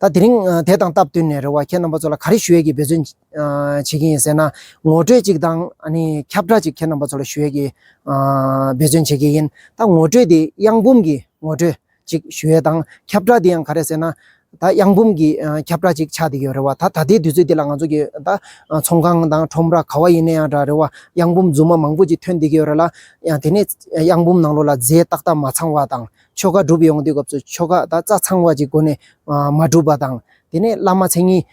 ད་དེ་རིང་དེ་དང་སྟབས་བསྟུན་ནས་རེ་བ་ཁྱེད་རྣམ་པ་ཚོ་ལ་ག་རེ་ཞུ་ཡས་ཀྱི་འབད་བརྩོན་བྱེད་ཀྱིན་ཡིན་ཟེར་ན། ངོ་སྤྲོད་ཅིག་དང་ཁྱབ་བསྒྲགས་ཅིག་ཁྱེད་རྣམ་པ་ཚོ་ལ་ཞུ་ཡས་ཀྱི་འབད་བརྩོན་བྱེད་ཀྱིན་ཡིན། ད་ངོ་སྤྲོད་དེ་གཡང་འབུམ་གྱི་ངོ་སྤྲོད་ཅིག་ཞུ་ཡས་དང་ཁྱབ་བསྒྲགས་དེ་ཡང་ག་རེ་ཟེར་ན། ད་གཡང་འབུམ་གྱི་ཁྱབ་བསྒྲགས་ཅིག་ཆགས་བསྡད་ཡོད་རེ་བ་ད་ད་ལྟའི་དུས་ཚོད་འདི་ལ་ང་ཚོ་གི་ད་ཚོང་ཁང་དང་ཁྲོམ་ར་ག་བ་ཡིན་ན་ཡང་འདྲ་རེ་བ་གཡང་འབུམ་རྫུན་མ་མང་པོ་ཅིག་ཐོན་བསྡད་ཀྱི་ཡོད་རེ་ལ། ཡང་དེ་ནས་གཡང་འབུམ་ནང་ལོགས་ལ་རྫས་ཏག་ཏག་མ་ཚང་བ་དང། ཆོ་ག་བསྒྲུབ་ཡོང་དུས་སྐབས་སུ་ཆོ་ག་དང་རྩ་ཚང་བ་ཅིག་སྒོ་ནས་མ་གྲུབ་པ་དང། དེ་ནས་བླ་མ་མཚན་ཉིད་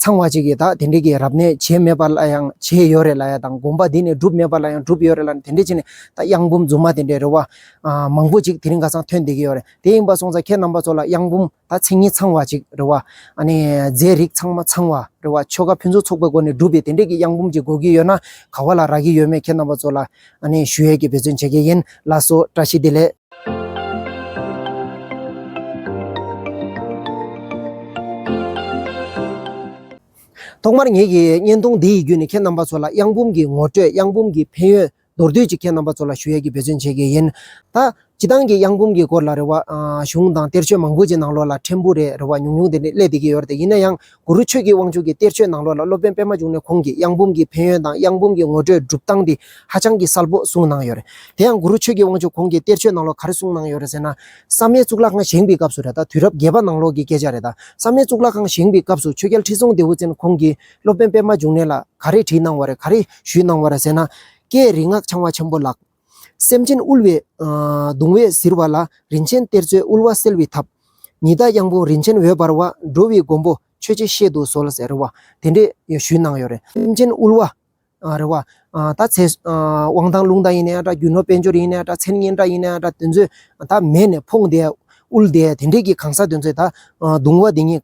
ཚང་བ་ཅིག་གིས་ད་དེ་འདྲས་ཀྱི་རབ་གནས་བྱས་མེད་པ་ལ་ཡང་བྱས་ཡོད་རེད་ལ་ཡ་དང་དགོངས་པ་འདི་ནས་བསྒྲུབས་མེད་པ་ལ་ཡང་བསྒྲུབས་ཡོད་རེད་ལ་དེ་འདྲས་བྱས་ནས་ད་གཡང་འབུམ་རྫུན་མ་དེ་འདྲས་རེད་བ། མང་པོ་ཅིག་དེ་རིང་ག་ཚང་ཐོན་བསྡད་ཀྱི་ཡོད་རེད་དེ་ཡིན་པ་སོང་ཙང་ཁྱེད་རྣམ་པ་ཚོ་ལ་གཡང་འབུམ། ད་མཚན་ཉིད་ཚང་བ་ཅིག་རེད་བ། རྫས་རིགས་ཚང་མ་ཚང་བ་རེད་བ། ཆོ་ག་ཕུན་ཚོགས་ཚོགས་པའི་སྒོ་ནས་སྒྲུབ་པའི་དེ་འབྲེལ་གྱི་གཡང་འབུམ་གྱི་སྒོ་ཁྱི་ཡོད་ན་ག་བ་ལ་རག་གི་ཡོད་མེད་ཁྱེད་རྣམ་པ་ཚོ་ལ་ཞུ་ཡས་ཀྱི་འབད་བརྩོན་བྱེད་ཀྱི་ཡིན་ལ་སོ་བཀྲ་ཤིས་བདེ་ལེགས། ཐོག་མར་ངེད་ཀྱི་བརྙན་ཐུང་འདི་ཡི་བརྒྱུད་ནས་ཁྱེད་རྣམ་པ་ཚོ་ལ་གཡང་འབུམ་གྱི་ངོ་སྤྲོད་གཡང་འབུམ་གྱི་ཕན་ཡོན་མདོར་བསྡུས་ཀྱིས་ཁྱེད་རྣམ་པ་ཚོ་ལ་ཞུ་ཡས་ཀྱི་འབད་བརྩོན་བྱེད་དགོས་ཡིན། ད། སྤྱི་བཏང་གི་གཡང་འབུམ་གྱི་སྐོར་ལ་རེ་བ། གཞུང་དང་གཏེར་ཆོས་མང་པོ་ཅིག་ནང་ལོགས་ལ་ཕྲན་བུ་རེ་རེ་བ་ཉུང་ཉུང་དེ་ནི་ཀླད་དེ་གི་ཡོར་ཏེ་ཡིན་ན་ཡང་གུ་རུ་ཆོས་ཀྱི་དབང་ཕྱུག་གི་གཏེར་ཆོས་ནང་ལོགས་ལ་སློབ་དཔོན་པད་མ་འབྱུང་གནས་ཁོང་གིས་གཡང་འབུམ་གྱི་ཕན་ཡོན་དང་གཡང་འབུམ་གྱི་ངོ་སྤྲོད་སྒྲུབ་སྟངས་དེ་ཧ་ཅང་གི་གསལ་པོ་གསུངས་གནང་ཡོད་རེད། དེ་ཡང་གུ་རུ་ཆོས་ཀྱི་དབང་ཕྱུག་ཁོང་གིས་གཏེར་ཆོས་ནང་ལོགས་ག་རེ་གསུངས་གནང་ཡོད་རེད་ཟེར་ན། བསམ་ཡས་གཙུག་ལག་ཁང་བཞེངས་པའི་སྐབས་སུ་རེད་ད་དུས་རབས་བརྒྱད་པ་ནང་ལོགས་ཀྱི་སྐད་ཆ་རེད་ད། བསམ་ཡས་གཙུག་ལག་ཁང་བཞེངས་པའི་སྐབས་སུ་ཆོས་རྒྱལ་ཁྲི་སྲོང་ལྡེའུ་བཙན་ཁོང་གིས། སློབ་དཔོན་པདྨ་འབྱུང་གནས་ལ་ག་རེ་བྲིས་གནང་བ་རེད་ག་རེ་ཞུས་གནང་བ་རེད་ཟེར་ན། ཀྱེ་རིག་སྔགས་འཆང་བ་ཆེན་པོ་ལགས། སེམས་ཅན་དབུལ་བའི། གདུང་བས་གཟིར་བ་ལ་རིན་ཆེན་གཏེར་མཛོད་དབུལ་བ་སེལ་བའི་ཐབས། ཉི་ཟླ་གཡང་འབུམ་རིན་ཆེན་འོད་འབར་བ་འགྲོ་བའི་མགོན་པོ་ཆོས་རྗེ་གཤེད་དུ་གསོལ་ཟེར་བ་དེ་འདྲས་ཞུས་གནང་ཡོད་རེད། སེམས་ཅན་དབུལ་བ། རེད་བ། ད་ཚེ། དབང་ཐང་ལུང་དང་ཡིན་ནའི་འདྲ་རྒྱུ་ནོར་དཔལ་འབྱོར་ཡིན་ནའི་འདྲ་མཚན་སྙན་གྲགས་ཡིན་ནའི་འདྲ་དེ་ཚོས་ད་མེད་ནས་ཕོངས་བསྡད་དབུལ་བསྡད་དེ་འདྲས་ཀྱི་གང་ཟག་དེ་ཚོས་ད་གདུང་བ་དེ་ཉིད་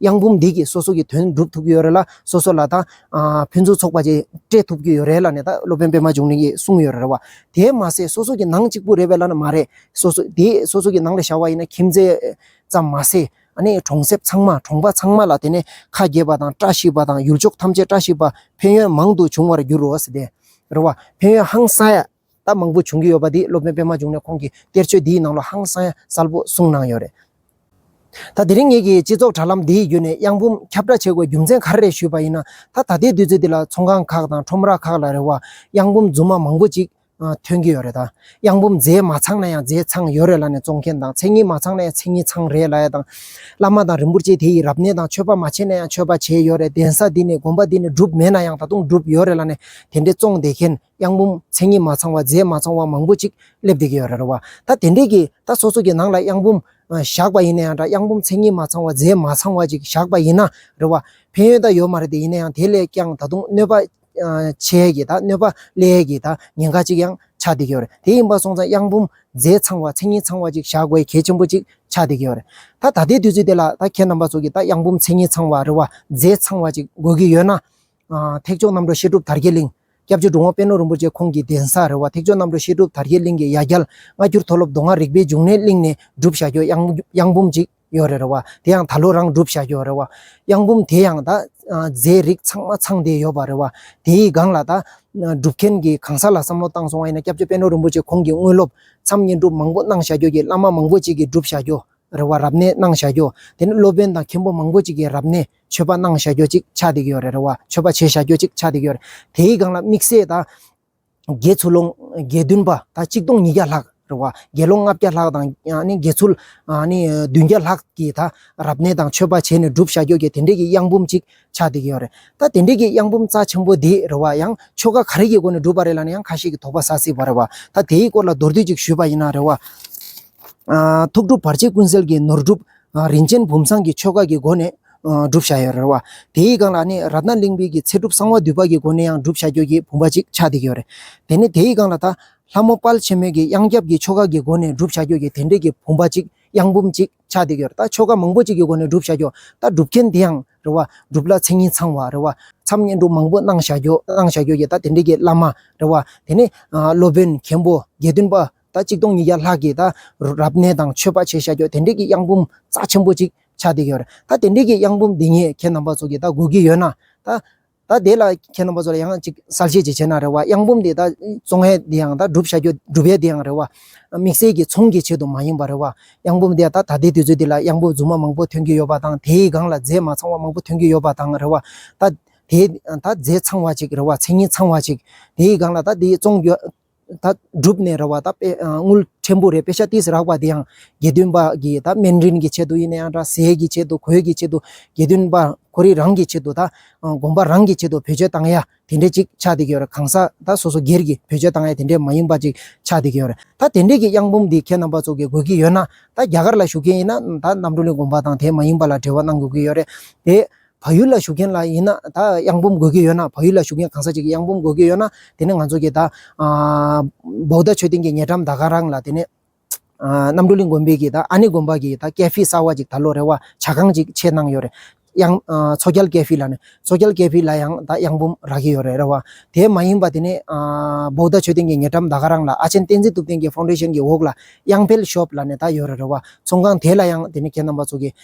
གཡང་འབུམ་སྡེ་གྱིས་སོ་སོ་གི་དོན་སྒྲུབ་ཐུབ་ཀྱི་ཡོད་རེད་ལ་སོ་སོ་ལ་ད་ཕུན་ཚོགས་ཚོགས་པ་བཅས་སྤྲད་ཐུབ་ཀྱི་ཡོད་རེད་ལ་ནས་ད་སློབ་དཔོན་པད་མ་འབྱུང་གནས་ཀྱིས་གསུངས་ཡོད་རེད་བ། དེས་མ་ཟད་སོ་སོ་གི་ནང་གཅིག་པུ་རེད་བས་ལ་ན་མ་རེད། སོ་སོ་དེ་སོ་སོ་གི་ནང་ལ་བཞག་བ་ཡིན་ན་ཁྱིམ་མཚེས་ཙམ་མ་ཟད་ཨ་ནི་གྲོང་གསེབ་ཚང་མ་གྲོང་པ་ཚང་མ་ལ་དེ་ནས་ཁ་གྱེས་པ་དང་བཀྲ་ཤིས་པ་དང་ཡུལ་ཕྱོགས་ཐམས་ཅད་བཀྲ་ཤིས་པ་ཕན་ཡོན་མང་དུ་འབྱུང་བར་འགྱུར་རོ། རེད་བ། ཕན་ཡོན་ཧང་སངས། ད་མང་པོ་བྱུང་གི་ཡོད་པ་དེ་སློབ་དཔོན་པད་མ་འབྱུང་ནས་ཁོང་གི་གཏེར་ཆོས་འདིའི་ནང་ལ་ཧང་སང་གསལ་པོ་གསུངས་གནང་ཡོད་རེད། ད་དེ་རིང་ངེད་ཀྱིས་སྤྱི་ཚོགས་དྲ་ལམ་འདིའི་བརྒྱུད་ནས་གཡང་འབུམ་ཁྱབ་བསྒྲགས་བྱེད་དགོས་རྒྱུ་མཚན་ག་རེ་རེད་ཞུས་པ་ཡིན་ན། ད་ད་ལྟའི་དུས་ཚོད་འདི་ལ་ཚོང་ཁང་ཁག་དང་ཁྲོམ་ར་ཁག་ལ་རེ་བ་གཡང་འབུམ་རྫུན་མ་མང་པོ་ཅིག་ཐོན་གྱི་ཡོད་རེད་ད། གཡང་འབུམ་རྫས་མ་ཚང་ན་ཡང་རྫས་ཚང་ཡོད་རེད་ལ་ནས་བཙོང་མཁན་དང་མཚན་ཉིད་མ་ཚང་ན་ཡང་མཚན་ཉིད་ཚང་རེད་ལ་ཡ་དང། བླ་མ་དང་རིན་པོ་ཆེ་དེ་ཡིས་རབ་གནས་དང་མཆོད་པ་མ་བྱས་ན་ཡང་མཆོད་པ་བྱས་ཡོད་རེད་གདན་ས་འདི་ནས་དགོན་པ་འདི་ནས་བསྒྲུབས་མེད་ན་ཡང་ད་དུང་བསྒྲུབས་ཡོད་རེད་ལ་ནས་དེ་འདྲའི་བཙོང་བསྡད་མཁན། གཡང་འབུམ་མཚན་ཉིད་མ་ཚང་བ་རྫས་མ་ཚང་བ་མང་པོ་ཅིག་སླེབས་བསྡད་ཀྱི་ཡོད་རེད་བ། ད་དེ་འདྲས་ཀྱིས་ད་སོ་སོ་ཀྱི་ནང་ལ་གཡང་འབུམ་བཞག་པ་ཡིན་ན་ཡང་འདྲ་གཡང་འབུམ་མཚན་ཉིད་མ་ཚང་བ་རྫས་མ་ཚང་བ་ཅིག་བཞག་པ་ཡིན་ན་རེད་བ། ཕན་ཡོད་ད་ཡོད་མ་རེད་དེ་ཡིན་ན་ཡང་དེ་ལས་ཀྱང་ད་དུང་གནོད་པ་ཆེ་ཡས་ཀྱི་ད་གནོད་པ་ཀླད་ཡས་ཀྱི་ད་ཉེན་ཁ་ཅིག་ཡང་ཆགས་བསྡད་ཀྱི་ཡོད་རེད་དེ་ཡིན་པ་སོང་ཙང་གཡང་འབུམ་རྫས་ཚང་བ་མཚན་ཉིད་ཚང་བ་ཅིག་བཞག་དགོས་གལ་ཆེན་པོ་ཅིག་ཆགས་བསྡད་ཀྱི་ཡོད་རེད། ད་ད་ལྟའི་དུས་ཚོད་འདི་ལ་ད་ཁྱེད་རྣམ་པ་ཚོ་གྱིས་ད་གཡང་འབུམ་མཚན་ཉིད་ཚང་བ་རེད་བ་རྫས་ཚང་བ་ཅིག་དགོས་ཀྱི་ཡོད་ན། ཐེག་མཆོག་རྣམ་གྲོལ་བཤད་སྒྲུབ་དར་རྒྱས་གླིང། སྐྱབས་རྗེ་འགྲོ་འོང་དཔལ་ནོར་རིན་པོ་ཆེ་ཁོང་གི་གདན་ས་རེད་བ། ཐེག་མཆོག་རྣམ་གྲོལ་བཤད་སྒྲུབ་དར་རྒྱས་གླིང་གི་ཡ་རྒྱལ། སྔ་འགྱུར་མཐོ་སློབ་མདོ་སྔགས་རིག་པའི་འབྱུང་གནས་གླིང་ནས་བསྒྲུབ་བཞག་གྱོ་གཡང་འབུམ་ཅིག་ཡོད་རེད་བ། དེ་ཡང་ད་ལོ་རང་བསྒྲུབ་བཞག་གྱོ་རེད་བ། གཡང་འབུམ་དེ་ཡང་ད། རྫས་རིགས་ཚང་མ་ཚང་བསྡད་ཡོད་བ་རེད་བ། དེའི་སྒང་ལ་ད། སྒྲུབ་མཁན་གྱི་གང་ཟག་ལ་བསམ་བློ་བཏང་སོང་བ་ཡིན་ན་སྐྱབས་རྗེ་དཔལ་ནོར་རིན་པོ་ཆེ་ཁོང་གི་དངོས་སློབ། མཚམས་བསྙེན་སྒྲུབ་མང་པོ་གནང་བཞག་གྱོ་གྱི་བླ་མ་མང་པོ་ཅིག་གི་བསྒྲུབ་བཞག་གྱོ་རེད་བ་རབ་གནས་གནང་བཞག་གྱོ། དེ་ནི་སློབ་དཔོན་དང་མཁན་པོ་མང་པོ་ཅིག་གི་རབ་གནས། མཆོད་པ་གནང་བཞག་ཀྱོ་ཅིག་ཆ་དིག་ཡོ་རེ་རེ་བ། མཆོད་པ་བྱེད་བཞག་ཀྱོ་ཅིག་ཆ་དིག་ཡོ། དེའི་སྒང་ལ་དམིགས་བསལ་དང། དགེ་ཚུལ་ལོངས་དགེ་འདུན་པ་དང་གཅིག་སྟོང་ཉིས་བརྒྱ་ལྷག་རེ་བ། དགེ་སློང་ལྔ་བརྒྱ་ལྷག་དང། དགེ་ཚུལ། བདུན་བརྒྱ་ལྷག་གིས་ད་རབ་གནས་དང་མཆོད་པ་བྱས་ནས་བསྒྲུབ་བཞག་ཀྱོ་ཀྱེ་དེ་འདྲས་ཀྱི་གཡང་འབུམ་ཅིག་ཆ་དིག་ཡོ་རེ། ད་དེ་འདྲས་ཀྱི་གཡང་འབུམ་རྩ་ཆེན་པོ་འདི་རེ་བ་ཡང་ཆོ་ག་ག་རེ་ཀྱི་སྒོ་ནས་བསྒྲུབ་པ་རེ་ལ་ནི་ཡང་ཁ་ཤས་ཀྱི་དོགས་པ་ཟ་སྲིད་པ་རེ་བ། ད་དེའི་སྐོར་ལ་མདོར་བསྡུས་ཅིག་ཞུས་པ་ཡིན་ན་རེ་བ། ཐུགས་སྒྲུབ་བར་ཆད་ཀུན་སེལ་གྱི་ནོར་སྒྲུབ། རིན་ཆེན་བུམ་བཟང་གི་ཆོ་ག་གི་སྒོ་ནས་བསྒྲུབ་བྱ་ཡོད་རེད་བ། དེའི་སྒང་ལ་ནི་རཏྣ་གླིང་དཔོན་གྱི་ཚེ་སྒྲུབ་གསང་བ་འདུས་པ་གྱི་སྒོ་ནས་ཡང་བསྒྲུབ་བྱ་ཁྱོད་ཀྱི་བུམ་པ་གཅིག་ཆགས་བསྡད་ཀྱི་ཡོད་རེད། དེ་ནས་དེའི་སྒང་ལ་ད། ལྷ་མོ་དཔལ་ཆེན་མོའི་གི་གཡང་སྐྱབས་ཀྱི་ཆོ་ག་གི་སྒོ་ནས་བསྒྲུབ་བྱ་ཁྱོད་ཀྱི་དེ་འབྲེལ་གྱི་བུམ་པ་གཅིག་གཡང་བུམ་གཅིག་ཆགས་བསྡད་ཀྱི་ཡོད་རེད་ད། ཆོ་ག་མང་པོ་གཅིག་གི་སྒོ་ནས་བསྒྲུབ་བྱ་ཁྱོད་ད་སྒྲུབ་མཁན་དེ་ཡང་རེད་བ། སྒྲུབ་ལ་མཚན་ཉིད་ཚང་བ་རེད་བ། མཚམས་བསྙེན་སྒྲུབ་མང་པོ་གནང་བྱ་ཁྱོད་གནང་བྱ་ཁྱོད་ཀྱི་ད་དེ་འབྲེལ་གྱི་བླ་མ་རེད་བ། དེ་ནས་སློབ་དཔོན་མཁན་པོ་དགེ་འདུན་པ། ད་གཅིག་སྟོང་ཉིས་བརྒྱ་ལྷག་གིས་ད་རབ་གནས་དང་མཆོད་པ་བྱས་བཞག་རྒྱུ་དེ་འདྲས་ཀྱི་གཡང་འབུམ་རྩ་ཆེན་པོ་ཅིག་ཆགས་འདི་ཡོད་རེད་ད་དེ་འདྲས་ཀྱི་གཡང་འབུམ་འདི་ཉིད་ཁྱེད་རྣམ་པ་ཚོ་གིས་ད་དགོས་ཀྱི་ཡོད་ན་ད། ད་དེ་ལ་ཁྱེད་རྣམ་པ་ཚོ་ལ་ཡང་གཅིག་གསལ་བཤད་ཅིག་བྱས་ན་རེ་བ་གཡང་འབུམ་འདི་ད་བཙོང་ཡས་འདི་ཡང་ད་སྒྲུབ་བྱ་རྒྱུ་སྒྲུབ་ཡས་འདི་ཡང་རེ་བ། དམིགས་བསལ་གྱི་ཚོང་གི་ཆེད་དུ་མ་ཡིན་པར་རེ་བ་གཡང་འབུམ་འདི་ད་ད་ལྟའི་དུས་ཚོད་འདི་ལ་གཡང་འབུམ་རྫུན་མ་མང་པོ་ཐོན་གྱི་ཡོད་པ་དང་དེའི་སྒང་ལ་རྫས་མ་ཚང་བ་མང་པོ་ཐོན་གྱི་ཡོད་པ་དང་རེ་བ་ད། དེའི་ད་རྫས་ཚང་བ་ཅིག་རེ་བ་མཚན་ཉིད་ཚང་བ་ཅིག་དེའི་སྒང་ལ་ད་འདི་བཙོང་རྒྱུ་ད་སྒྲུབ་ནས་རེ་བ་ད་དངུལ་ཕྲན་བུ་རེ་དཔེ་ཆ་ཏིས་རག་པ་དེ་ཡང་དགེ་འདུན་པ་གི་ད་སྨན་རིན་གྱི་ཆེད་དུ་ཡིན་ན་ཡང་འདྲ་ཟས་ཀྱི་ཆེད་དུ་གོས་ཀྱི་ཆེད་དུ་དགེ་འདུན་པ་ཁོ་རིགས་རང་གི་ཆེད་དུ་ད་དགོན་པ་རང་གི་ཆེད་དུ་བེད་སྤྱོད་བཏང་ཡ་དེ་འདྲས་ཅིག་ཆགས་བསྡད་ཀྱི་ཡོད་རེད་གང་ཟག་ད་སོ་སོ་སྒེར་གྱི་བེད་སྤྱོད་བཏང་ཡ་དེ་འདྲས་མ་ཡིན་པ་ཅིག་ཆགས་བསྡད་ཀྱི་ཡོད་རེད་ད་དེ་འདྲས་ཀྱི་གཡང་འབུམ་འདི་ཁྱེད་རྣམ་པ་ཚོ་གི་དགོས་ཀྱི་ཡོད་ན་ད་རྒྱ་གར་ལ་བཞུགས་མཁན་ཡིན་ན་ད་རྣམ་གྲོལ་གླིང་དགོན་པ་དང་དེ་མ་ཡིན་པ་ལ་འབྲེལ་བ་གནང་དགོས་ཀྱི་ཡོད་རེད་དེ། བག་ཡོད་ལ་ཞུགས་མཁན་ལ་ཡིན་ན་ད་གཡང་འབུམ་དགོས་ཀྱི་ཡོད་ན་བག་ཡོད་ལ་ཞུགས་མཁན་གང་ཟག་ཅིག་གི་གཡང་འབུམ་དགོས་ཀྱི་ཡོད་ན་དེ་ནི་ང་ཚོ་གི་ད། བོའུ་ད་ཆོས་སྡིངས་ཀྱི་ཉེ་འགྲམ་ད་ག་རང་ལ་དེ་ནི། རྣམ་གྲོལ་གླིང་དགོན་པའི་གི་ད་ཨ་ནེ་དགོན་པ་གི་ད་སྐད་ཕི་གསར་བ་ཅིག་ད་ལོ་རེ་བ་བྱ་ཁང་ཅིག་ཕྱེས་གནང་ཡོད་རེད། གཡང། མཚོ་རྒྱལ་སྐད་ཕི་ལ་ནི་མཚོ་རྒྱལ་སྐད་ཕི་ལ་ཡང་ད་གཡང་འབུམ་རག་གི་ཡོད་རེད་རེད་བ། དེ་མ་ཡིན་པ་དེ་ནི། བོའུ་ད་ཆོས་སྡིངས་ཀྱི་ཉེ་འགྲམ་ད་ག་རང་ལ་ཨ་ཆེན་བསྟན་འཛིན་ཐུབ་བསྟན་གྱི་ཧྥོང་ཏེ་ཤན་གྱི་འོག་ལ་གཡང་འཕེལ་ཤོབ་ལ་ནི་ད་ཡོད་རེད་རེད་བ། ཚོང་ཁང་དེ་ལ་ཡང་དེ་ནི་ཁྱེད་རྣམ་པ་ཚོ་གི།